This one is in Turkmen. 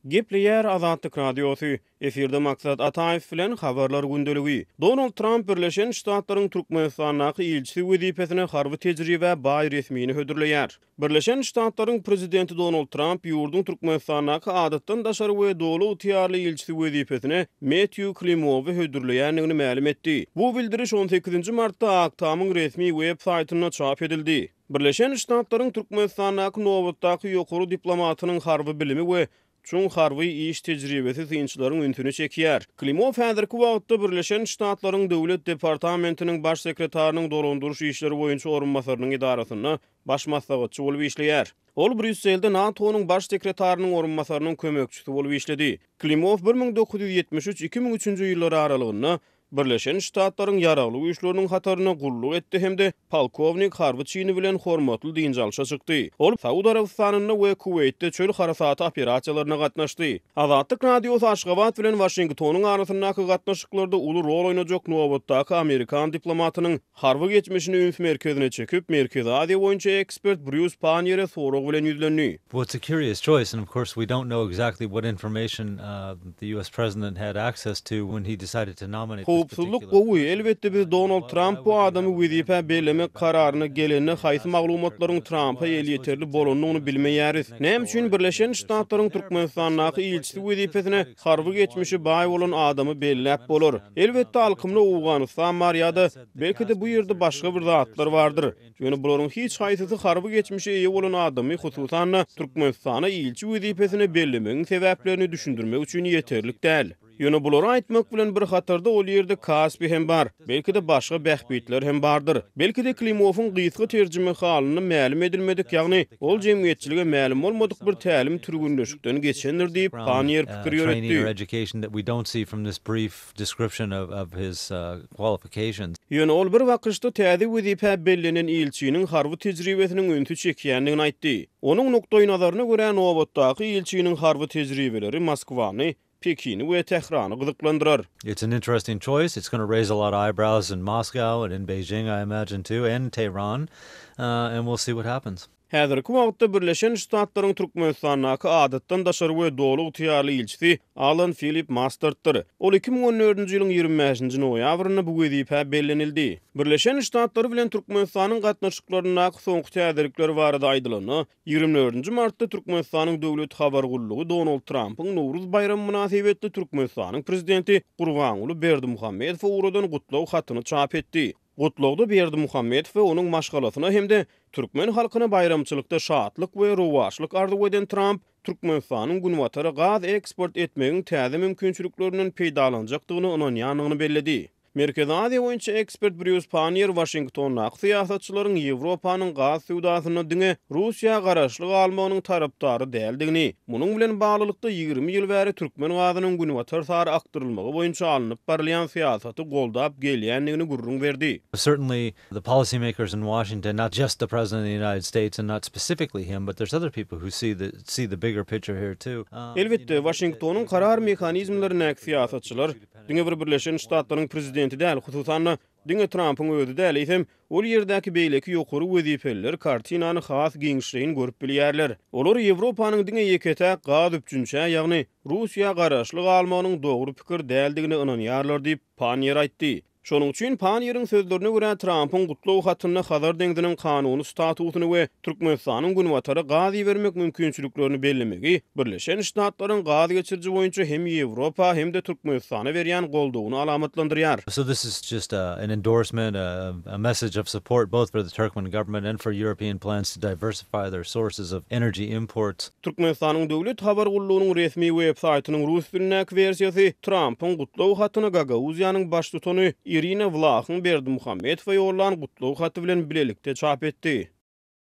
Gepleýär Azatlyk Radiosy, efirde Maksat Ataýew bilen Habarlar gündeligi. Donald Tramp Birleşen Ştatlaryň Türkmenistandaky ilçisi wezipesine harby tejribä baý resmini hödürleýär. Birleşen Ştatlaryň Prezidenti Donald Tramp ýurduň Türkmenistandaky Adatdan daşary we Doly ygtyýarly ilçisi wezipesine Mettýu Klimowy hödürleýändigini mälim etdi. Bu bildiriş on sekizinji martda Ak Tamyň resmi web saýtynda çap edildi. Birleşen Ştatlaryň Türkmenistandaky nobatdaky ýokary diplomatynyň harby bilimi we çuň harby iş tejribesi synçylaryň ünsüni çekýär. Klimow häzirki wagtda Birleşen Ştatlaryň Döwlet departamentiniň baş sekretarynyň dolandyryş işleri boýunça orunbasarynyň edarasynda baş maslahatçy bolup işleýär. Ol Brýusselde NATO-nyň baş sekretarynyň orunbasarynyň kömekçisi bolup işledi. Klimow bir müň dokuz ýüz ýetmiş üç-iki müň üçünji ýyllar aralygynda Birleşen Ştatlaryň Ýaragly Güýçleriniň hatarynda gulluk etdi hem-de polkownik harby çyny bilen hormatly dynç alşa çykdy. Ol Saud Arabystanynda we Kuweýtde çöl harasaty operasiýalaryna gatnaşdy. Azatlyk Radiosy Aşgabat bilen Waşingtonyň arasyndaky gatnaşyklarda uly rol oýnajak nobatdaky amerikan diplomatynyň, Harby geçmişini üns merkezine çekip, Merkezi Aziýa boýunça ekspert Brýus Panniýere sorag bilen ýüzlendi. Well it's a curious choice and of course we don't know exactly what information the US president had access to when he decided to nominate this particular person. Howpsuzlyk gowy, elbetde biz Donald Tramp bu adamy wezipä bellemek kararyna gelende haýsy maglumatlaryň Trampa elýeterli bolandygyny bilmeýäris. Näme üçin Birleşen Ştatlaryň Türkmenistandaky ilçisi wezipesine Harby geçmişi baý bolan adamy belläp bolar. Elbetde alkymda Owganystan bar ýa-da belki-de bu ýerde başga bir zatlar bardyr. Ýöne bularyň hiç haýsysy harby geçmişe eýe bolan adamy hususan-da Türkmenistana ilçi wezipesine bellemegiň sebäplerini düşündirmek üçin ýeterlik däl. Ýöne bulary aýtmak bilen bir hatarda ol ýerde Kaspi hem bar, belki-de başga bähbitler hem bardyr. Belki-de Klimowyň gysga terjimehalynda mälim edilmedik, ýagny Ol jemgyýetçilige mälim bolmadyk bir tälim türgenleşikden geçendir diýip, Panniýer pikir ýöretdi. Ýöne ol bir bakyşda täze wezipä bellenen ilçiniň harby tejribesiniň ünsi çekýändigini aýtdy. Onuň nukdaýnazaryna görä, nobatdaky ilçiniň harby tejribeleri Moskwany Pekini we Tährany gyzyklandyrar. It's an interesting choice, it's gonna raise a lot of eyebrows in Moscow and in Beijing I imagine too and Tehran and we'll see what happens. Häzirki wagtda Birleşen Ştatlaryň Türkmenistandaky Adatdan daşary we Doly ygtyýarly ilçisi Alan Filip Masterddir. Ol iki müň on dördünji ýylyň ýigrimi bäşinji noýabrynda bu wezipä bellenildi. Birleşen Ştatlar bilen Türkmenistanyň gatnaşyklaryndaky soňky täzelikler barada aýdylanda, Ýigrimi dördünji martda Türkmenistanyň Döwlet habar gullugy Donald Trampyň Nowruz baýramy mynasybetli Türkmenistanyň Prezidenti Gurbanguly Berdimuhamedowa ugradan gutlag hatyny çap etdi. Gutlagda Berdimuhamedow we onuň maşgalasyna hem-de türkmen halkyna baýramçylykda şatlyk we rowaçlyk arzuw eden Tramp, Türkmenistanyň Günbatara gaz eksport etmegiň täze mümkinçiliklerinden peýdalanjakdygyna ynanýandygyny belledi. Merkezi Aziýa boýunça ekspert Brýus Panniýer Waşingtondaky syýasatçylaryň Ýewropanyň gaz söwdasynda diňe Russiýa garaşly galmagynyň tarapdary däldigini, munuň bilen baglylykda ýigrimi ýyl bäri türkmen gazynyň günbatar sary akdyrylmagy boýunça alnyp barylýan syýasaty goldap gelýändigini gürrüň berdi. Certainly the policy makers in Washington, not just the President of the United States and not specifically him, but there's other people who see the see the bigger picture here too. Elbetde, Waşingtonyň karar mehanizmlerindäki syýasatçylar, Diňe bir Birleşen Ştatlaryň prezidenti däl, hususan-da, diňe Trampyň özi däl, eýsem, ol ýerdäki beýleki ýokary wezipeliler kartinany has giňişleýin görüp bilýärler. Olar Ýewropanyň diňe ýeke-täk gaz üpjünçä, ýagny Russiýa garaşly galmagynyň dogry pikir däldigine ynanýarlar diýip, Panniýer aýtdy. Şonuň üçin Panniýeriň sözlerine görä, Trampyň gutlag hatynda Hazar deňziniň kanuny statusyny we Türkmenistanyň Günbatara gaz ibermek mümkinçiliklerini bellemegi Birleşen Ştatlaryň gaz geçiriji boýunça hem Ýewropa, hem-de Türkmenistana berýän goldawyny alamatlandyrýar. So this is just a an endorsement, a a message of support both for the Turkmen government and for European plans to diversify their sources of energy imports. Türkmenistanyň Döwlet habar gullugynyň resmi websaýtynyň rus dilindäki wersiýasy Trampyň gutlag hatyna Gagauziýanyň baştutany Irina Wlahyň Berdimuhamedowa ýollan gutlag haty bilen bilelikde çap etdi.